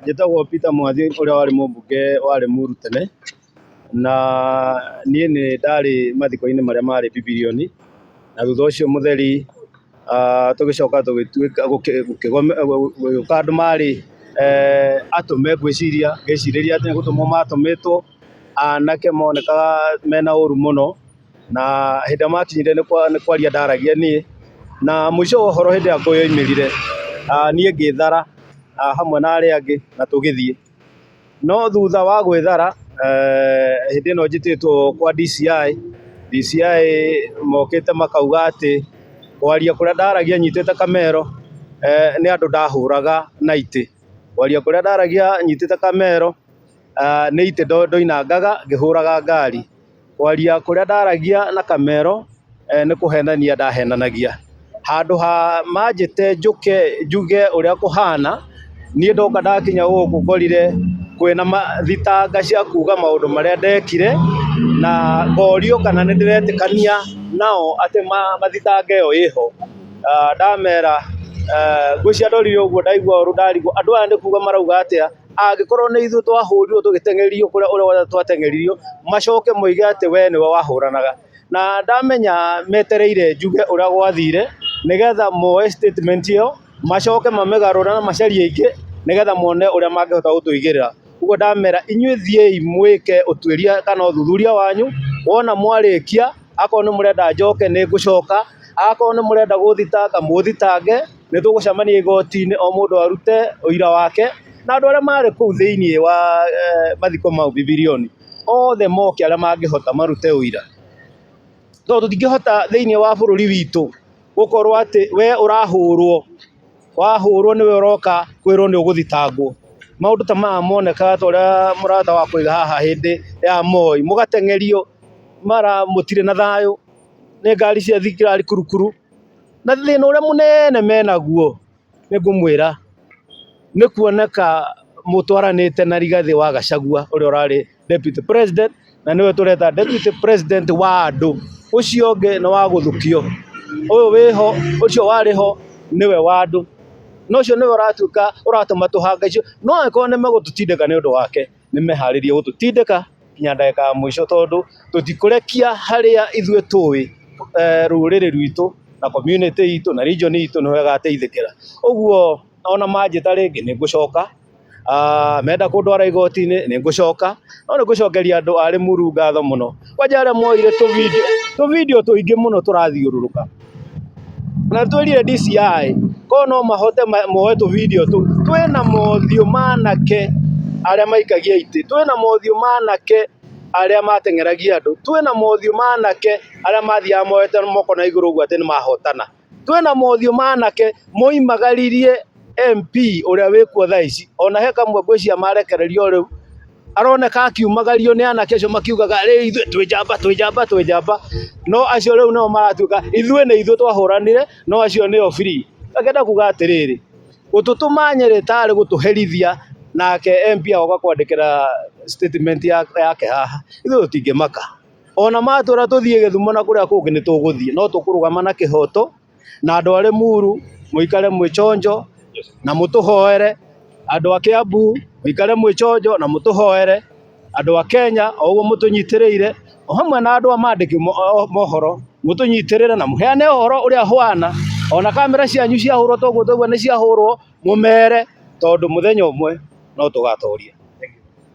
Njĩtagwo Peter Mwanthi ũrĩa warĩ mũmbunge warĩ Muru tene, na niĩ nĩ ndarĩ mathiko-inĩ marĩa marĩ Bibirio-inĩ, na thutha ũcio Mũtheri tũgĩcoka tũgĩtuĩka gũgĩũka andũ marĩ atũme ngwĩciria, ngĩcirĩria atĩ nĩ gũtũmwo matũmĩtwo anake monekaga mena ũru mũno. Na hĩndĩ ĩrĩa makinyire nĩ kwa- nĩ kwaria ndaragia niĩ, na mũico wa ũhoro hĩndĩ ĩrĩa ngũĩ yoimĩrire, ah, niĩ ngĩĩthara ah, hamwe na arĩa angĩ na tũgĩthiĩ. No thutha wa gwĩthara, eh, hĩndĩ ĩno njĩtĩtwo kwa DCI, DCI mokĩte makauga atĩ kwaria kũrĩa ndaragia nyitĩte kamero, eh, nĩ andũ ndahũraga na itĩ. Kwaria kũrĩa ndaragia nyitĩte kamero, ah, nĩ itĩ ndo- ndoinangaga ngĩhũraga ngari. Kwaria kũrĩa ndaragia na kamero nĩ kũhenania ndahenanagia. Handũ ha manjĩte njũke njuge ũrĩa kũhana, niĩ ndoka ndakinya gũkũ ngorire kwĩna thitanga cia kuga maũndũ marĩa ndekire, na ngorio kana nĩ ndĩretĩkania nao atĩ mathitanga ĩyo ĩho. Ndamera, ngwĩciria ndorire ũguo ndaigua ũru ndarigwo andũ aya nĩ kuga marauga atĩa? Angĩkorwo nĩ ithuĩ twahũrirwo tũgĩteng'erio kũrĩa ũrĩa wothe twateng'eririo, macoke moige atĩ we nĩwe wahũranaga. Na ndamenya metereire njuge ũrĩa gwathire, nĩgetha moe statement ĩyo, macoke mamĩgarũre na macarie ĩngĩ, nĩgetha mone ũrĩa mangĩhota gũtũigĩrĩra. Ũguo ndamera inyuĩ thiĩi mwĩke ũtuĩria kana ũthuthuria wanyu, wona mwarĩkia, akorwo nĩ mũrenda njoke nĩ ngũcoka, akorwo nĩ mũrenda gũthitanga mũthitangĩ. Nĩ tũgũcemania igoti-inĩ o mũndũ arute ũira wake, na andũ arĩa marĩ kũu thĩinĩ wa mathiko mau Bibirioni, othe moke arĩa mangĩhota marute ũira. Tondũ tũtingĩhota thĩinĩ wa bũrũri witũ gũkorwo atĩ we ũrahũrwo, wahũrwo nĩwe ũroka kwĩrwo nĩ ũgũthitangwo. Maũndũ ta maya monekaga ta ũrĩa mũrata wa kũrĩ haha hĩndĩ ya Moi, mũgateng'erio mara mũtirĩ na thayũ nĩ ngari cia thigari kurukuru. Na thĩna ũrĩa mũnene menaguo nĩ ngũmwĩra nĩ kuoneka mũtwaranĩte na Rigathĩ wa Gachagua ũrĩa ũrarĩ Deputy President na nĩwe tũreta Deputy President wa andũ. Ũcio ũngĩ nĩ wa gũthukio. Ũyũ wĩho, ũcio warĩ ho nĩwe wa andũ. Na ũcio nĩwe ũratuĩka ũratũma tũhangaicio no angĩkorwo nĩ megũtũtindĩka nĩ ũndũ wake. nĩ meharĩrie gũtũtindĩka nginya ndagĩka ya mũico tondũ tũtikũrekia harĩa ithuĩ tũĩ eh, rũrĩrĩ rwitũ na community itũ na region itũ nĩho ĩgateithĩkĩra ũguo ona manjĩta rĩngĩ nĩ ngũcoka Ah, menda kũndwara igoti-inĩ nĩ ngũcoka no nĩ ngũcokeria andũ a Limuru ngatho mũno kwanja arĩa moire tũvideo tũvideo tũingĩ mũno tũrathiũrũrũka Na nĩ twĩrire DCI korwo no mahote moe tũ video tũu. Twĩna mothiũ ma anake arĩa maikagia itĩ, twĩna mothiũ ma anake arĩa mateng'eragia andũ, twĩna mothiũ ma anake arĩa mathiaga moete moko na igũrũ ũguo atĩ nĩ mahotana, twĩna mothiũ ma anake moimagaririe... MP ũrĩa wĩkuo thaa ici ona he kamwe ngwĩciria marekererio o rĩu, aroneka akiumagario nĩ anake acio makiugaga rĩu ithuĩ twĩ njamba, twĩ njamba, twĩ njamba, no acio rĩu nĩo maratuĩka ithuĩ nĩ ithuĩ twahũranire no acio nĩo free. Ngakĩenda kuuga atĩrĩrĩ, gũtũtũma Nyĩrĩ ta arĩ gũtũherithia nake MP agoka kwandĩkĩra statement yake haha, ithuĩ tũtingĩmaka. Ona matwĩra tũthiĩ Gĩthumo na kũrĩa kũngĩ nĩ tũgũthiĩ no tũkũrũgama na kĩhoto na andũ a Limuru mũikare mwĩ chonjo na mũtũhoere, andũ a Kiambu mũikare mwĩ chonjo na mũtũhoere, andũ a Kenya o ũguo mũtũnyitĩrĩire, o hamwe na andũ a mandĩki mo- o- mohoro mũtũnyitĩrĩre na mũheane ũhoro ũrĩa ũhwana, ona kamera cianyu ciahũrwo ta ũguo twaigua nĩ ciahũrwo, mũmere tondũ mũthenya ũmwe no tũgatoria.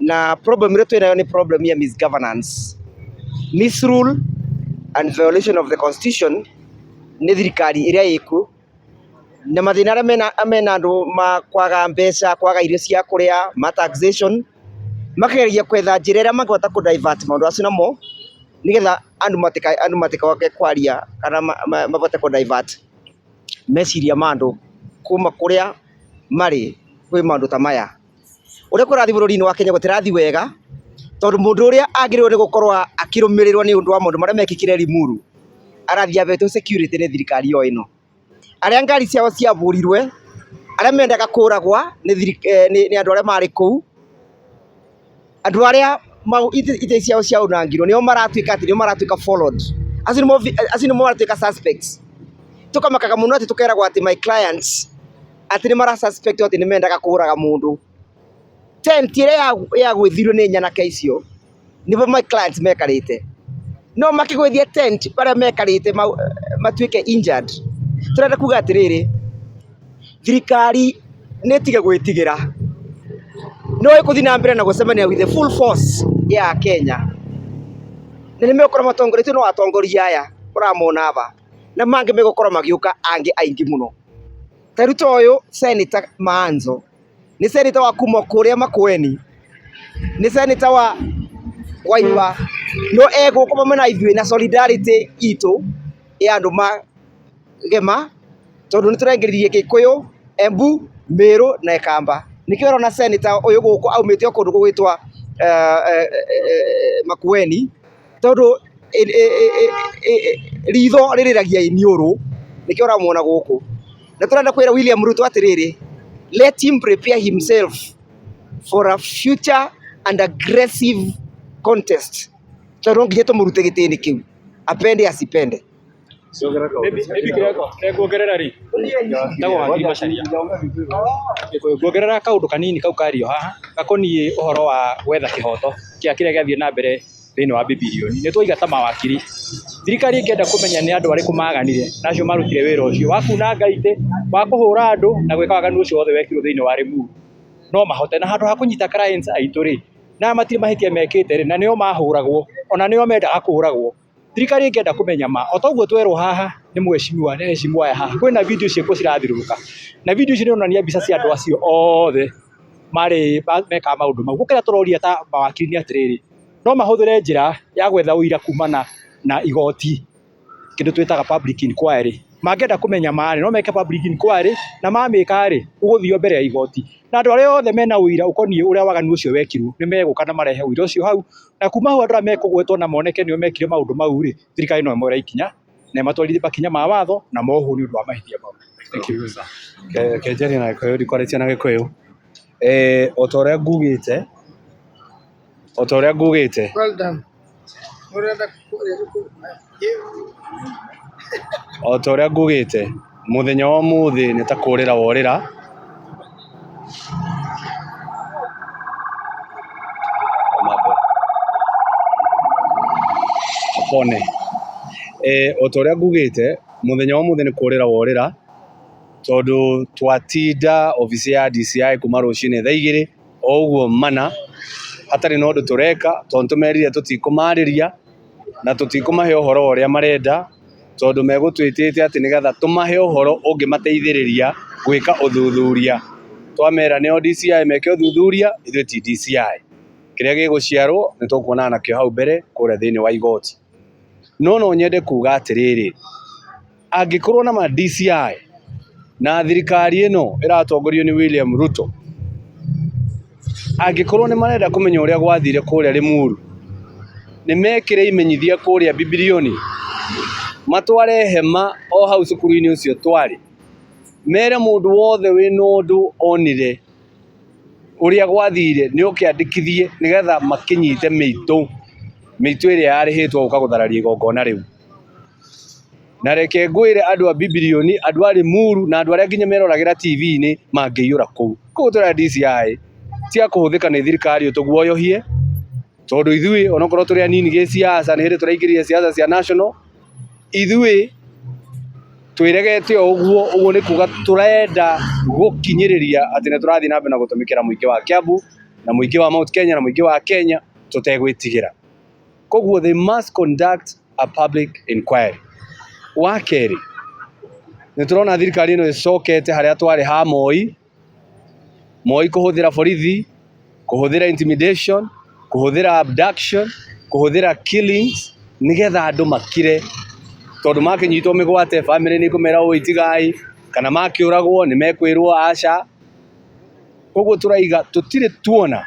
na problem ĩrĩa twĩnayo nĩ problem ya misgovernance, misrule and violation of the constitution nĩ thirikari ĩrĩa ĩkuo, na mathĩna arĩa mena andũ ma kwaga mbeca, kwaga irio cia kũrĩa, ma taxation, makageria gwetha njĩra ĩrĩa mangĩhota kũ divert maũndũ macio namo, nĩgetha andũ matikoke kwaria kana mahote kũ divert meciria ma andũ kuma kũrĩa marĩ kwĩ maũndũ ta maya. Ũrĩa kũrathiĩ bũrũri-inĩ wa Kenya gũtirathiĩ wega, tondũ mũndũ ũrĩa agĩrĩirwo nĩ gũkorwo akĩrũmĩrĩrwo nĩ ũndũ wa maũndũ marĩa mekĩkire Limuru, arathiĩ ahetwo security nĩ thirikari o ĩno. Arĩa ngari ciao ciabũrirwe, arĩa mendaga kũragwa nĩ andũ arĩa marĩ kũu. Andũ arĩa itĩ ciao ciaunangirwo nĩo maratuĩka atĩ nĩo maratuĩka followed. Acio nĩmo acio nĩmo maratuĩka suspects. Tũkamakaga mũno atĩ tũkeragwo atĩ my clients atĩ nĩ mara suspect atĩ nĩ mendaga kũraga mũndũ. Tent ĩrĩa yagwĩthirwo nĩ nyanake icio nĩbo my clients mekarĩte. No makĩgwĩthia tent barĩa mekarĩte matuĩke injured. Tũrenda kuga atĩrĩrĩ. thirikari nĩ ĩtige gwĩtigĩra, no ĩgũthiĩ na mbere na gũcemania with the full force ya Kenya, na nĩ megũkorwo matongoria, ti ũyũ nĩ atongoria aya ũramona haha, na mangĩ megũkorwo magĩũka angĩ aingĩ mũno, ta rĩu ta ũyũ cenĩta Maanzo, nĩ cenĩta wa kuma o kũrĩa Makueni, nĩ cenĩta wa Waiywa, no egũkũ hamwe na ithuĩ na solidarity itũ ya andũ ma gema tondũ nĩ tũraingĩririe gĩkũyũ, embu, mĩrũ na ikamba. Nĩkĩo ũrona cenĩta ũyũ gũkũ aumĩte o kũndũ gũgwĩtwo Makueni tondũ ritho rĩrĩragia iniũrũ nĩkĩo ũramwona gũkũ. Nĩ tũrenda kwĩra William Ruto atĩrĩrĩ, let him prepare himself for a future and aggressive contest tondũ no nginya tũmũrute gĩtĩ-inĩ kĩu apende asipende. Nguongerera kaũndũ kanini kau kario haha gakoniĩ ũhoro wa gwetha kĩhoto kĩa kĩrĩa gĩathiĩ na mbere thĩinĩ wa Bibilioni. Nĩ twaiga ta mawakiri, thirikari ĩngĩenda kũmenya nĩ andũ arĩkũ maganire na acio marutire wĩra ũcio wa kunanga itĩ, wa kũhũra andũ na gwĩka waganu ũcio wothe wekirwo thĩinĩ wa Limuru, no mahote. Na handũ ha kũnyita clients aitũ rĩ, na aya matirĩ mahĩtia mekĩte rĩ, na nĩo mahũragwo, ona nĩo mendaga kũragwo. Thirikari ĩngĩenda kũmenya ma, o ta ũguo twerwo haha nĩ mheshimiwa nĩ mheshimiwa aya haha, kwĩna video ciĩkuo cirathiũrũrũka, na video icio nĩ ironania mbica cia andũ acio othe marĩ mekaga maũndũ mau. Rĩu kĩrĩa tũroria ta mawakiri nĩ atĩrĩrĩ, no mahũthĩre njĩra ya gwetha ũira kumana na igoti, kĩndũ twĩtaga public inquiry. Mangĩenda kũmenya ma rĩ, no meke public inquiry, na mamĩka rĩ, ũgũthio mbere ya igoti. Na andũ arĩa othe mena ũira ũkoniĩ ũrĩa waganu ũcio wekirwo, nĩ megũka na marehe ũira ũcio hau. Na kuma hau andũ arĩa mekũgwetwo na moneke nĩo mekire maũndũ mau-rĩ, thirikari no ĩmoere ikinya na ĩmatwarithie makinya ma watho na mohwo nĩ ũndũ wa mahĩtia mau. Thank you. Ke- kenjania na gĩkũyũ ndikwarĩtie na gĩkũyũ eh, o ta ũrĩa ngugĩte o ta ũrĩa ngugĩte Well done. Ũrenda O ta ũrĩa ngugĩte mũthenya wa ũmũthĩ nĩ ta kũrĩra worĩra. O ta ũrĩa ngugĩte mũthenya wa ũmũthĩ nĩ kũrĩra worĩra tondũ twatinda obici ya DCI kuma rũcinĩ thaa igĩrĩ o ũguo mana hatarĩ na ũndũ tũreka tondũ nĩtũmerire tũtikũmarĩria na tũtikũmahe ũhoro wa ũrĩa marenda tondũ megũtwĩtĩte atĩ nĩgetha tũmahe ũhoro ũngĩmateithĩrĩria gwĩka ũthuthuria. Twamera nĩo DCI meke ũthuthuria ithuĩ ti DCI. Kĩrĩa gĩgũciarwo nĩtũkuonana nakĩo hau mbere kũrĩa thĩiniĩ wa igoti. No nonyende kuga atĩrĩrĩ, angĩkorwo na ma DCI na thirikari ĩno ĩratongorio nĩ William Ruto, angĩkorwo nĩ marenda kũmenya ũrĩa gwathire kũrĩa Rĩmuru, nĩ mekĩre imenyithia kũrĩa Bibilioni, matware hema o hau cukuru-inĩ ũcio twarĩ, mere mũndũ wothe wĩna ũndũ onire ũrĩa gwathire nĩ oke andĩkithie nĩgetha makĩnyite mĩitũ, mĩitũ ĩrĩa yarĩhĩtwo gũka gũthararia igongona rĩu. Na reke ngwĩre andũ a Bibilioni, andũ a Limuru na andũ arĩa nginya meroragĩra TV-inĩ mangĩiyũra kũu. Kũguo tũrenda DCI cia kũhũthĩka nĩ thirikari ũtũguoyohie tondũ ithuĩ onokorwo tũrĩ anini gĩsiasa nĩ hĩndĩ tũraingĩrire siasa cia national, ithuĩ twĩregete o ũguo, ũguo nĩ kuga tũrenda gũkinyĩrĩria atĩ nĩ tũrathiĩ na mbere na gũtũmĩkĩra mũingĩ wa Kiambu na mũingĩ wa Mount Kenya na mũingĩ wa Kenya tũtegwĩtigĩra. koguo they must conduct a public inquiry wa kerĩ nĩ tũrona thirikari ĩno ĩcokete harĩa twarĩ ha Moi Moi kuhuthira borithi kuhuthira intimidation kuhuthira abduction kuhuthira killings nigetha andu makire tondu makinyitwo migwate family ni kumera ui tigai kana makiuragwo ni mekwirwo aca koguo turaiga tutire tuona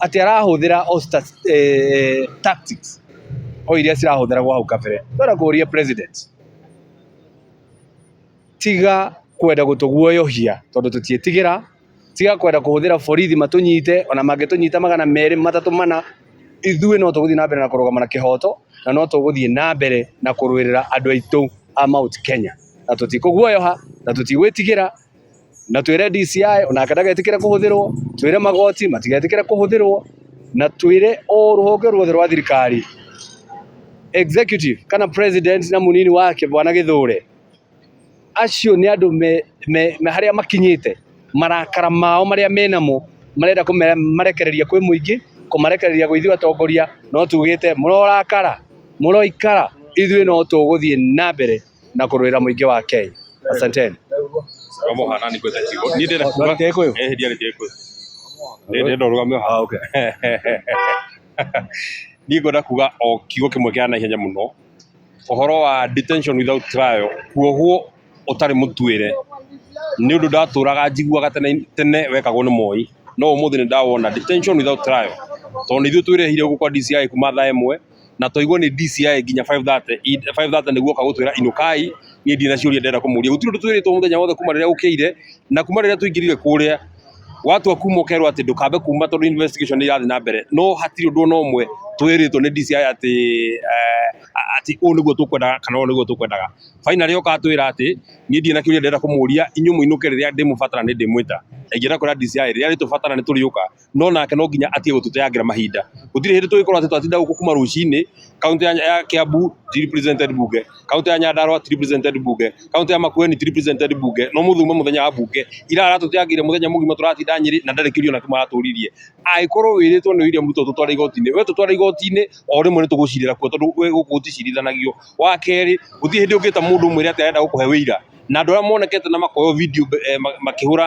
atĩ arahũthĩra o tactics o iria cirahũthĩragwo hau kabere. Ndĩrenda kũria president tiga kwenda gũtũguoyohia tondũ tũtiĩtigĩra, tiga kwenda kũhũthĩra borithi matũnyite, ona mangĩtũnyita magana merĩ, matatũ, mana, ithuĩ no tũgũthiĩ na mbere na kũrũgama na kĩhoto na no tũgũthiĩ na mbere na kũrũĩrĩra andũ aitũ a Mount Kenya. Na tũtikũguoyoha na tũtigwĩtigĩra. na twĩre DCI onake ndagetĩkĩre kũhũthĩrwo, twĩre magoti matigetĩkĩre kũhũthĩrwo, na twĩre o rũhonge ruothe rwa thirikari executive kana president na mũnini wake bwana Gĩthũre, acio nĩ andũ me, me, me harĩa makinyĩte marakara mao marĩa menamo marenda kũmarekereria kwĩ mũingĩ kũmarekereria gwĩ ithuĩ atongoria no tugĩte mũrorakara mũroikara ithuĩ no tũgũthiĩ na mbere na kũrũĩra mũingĩ wa Kenya. Asanteni. Wamuhana ni kwenda kigo. Ni ndira kuga. Ndä kå yå Eh hidi ari kiko. Ni ndira rugame ha. okay. Ni ngwenda kuga o kigo kimwe kia na ihenya muno. Uhoro wa detention without trial kuohwo utari mutwire ni undu ndaturaga njiguaga tene tene wekagwo ni moi no umuthi ni ndawona detention without trial tondu ithuĩ twĩrehire gũkũ kwa DCI kuma thaa ĩmwe na twaigwo nĩ DCI nginya 5:30 i- 5:30 nĩguo oka gũtwĩra inũkai niĩ ndirĩ na ciũria ndĩrenda kũmũria gũtirĩ ũndũ twĩrĩtwo mũthenya wothe kuma rĩrĩa ũkĩire na kuma rĩrĩa tũingĩrire kũrĩa watua kuma ũkerwo atĩ ndũkambe kuma tondũ investigation nĩ irathiĩ na mbere no hatirĩ ũndũ ona ũmwe twĩrĩtwo nĩ DCI atĩ eh, a- atĩ ũũ nĩguo tũkwendaga kana ũũ nĩguo tũkwendaga finally oka atwĩra atĩ niĩ ndirĩ na kĩũria ndĩrenda kũmũria inyuĩ mũinũke rĩrĩa ndĩmũbatara nĩ ndĩmwĩta ingĩenda kwĩra DCI rĩrĩa rĩtũbatara nĩ tũrĩũka no nake no nginya atige gũtũteangĩra mahinda gũtirĩ hĩndĩ tũgĩkorwo atĩ twatinda gũkũ kuma rũcinĩ kaunti ya Kiambu ti represented bunge kaunti ya Nyandarua ti represented bunge kaunti ya Makueni ti represented bunge no mũthuma mũthenya wa bunge ira aratũteangĩire mũthenya mũgima tũratinda Nyeri na ndarĩ kĩũria ona kĩmwe aratũririe angĩkorwo wĩrĩtwo nĩ William Ruto tũtware igoti-inĩ we tũtware igoti-inĩ o rĩmwe nĩ tũgũcirĩra kuo tondũ we gũkũ gũticirithanagio wa kerĩ gũtirĩ hĩndĩ ũngĩta mũndũ ũmwĩre atĩ arenda gũkũhe wĩira na andũ arĩa monekete na makoywo video eh, ma- makĩhũra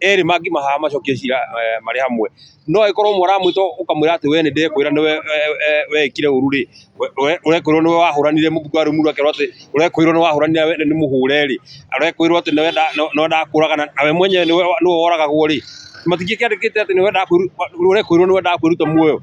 erĩ mangĩmahaha macokie cira eh, marĩ hamwe no agĩkorwo ũmwe ũramwĩta ũkamwĩra atĩ we nĩ ndekwĩra nĩ we- we- we- wekire ũru rĩ ũrekwĩrwo nĩ we wahũranire mũbungo wa rũmuru akerwo atĩ ũrekwĩrwo nĩ wahũranire we- nĩ mũhũre rĩ ũrekwĩrwo atĩ nĩwe nda- nĩ- nĩwe ndakũraga na na we mwenyewe nĩwe nĩwe woragagwo rĩ matingĩkĩandĩkĩte atĩ nĩwe ndakwĩru- ũrekwĩrwo nĩwe ndakwĩruta muoyo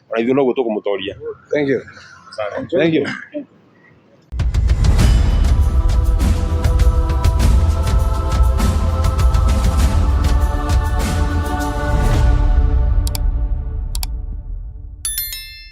ona ithuĩ noguo tũkũmũtoria Thank you. Thank you.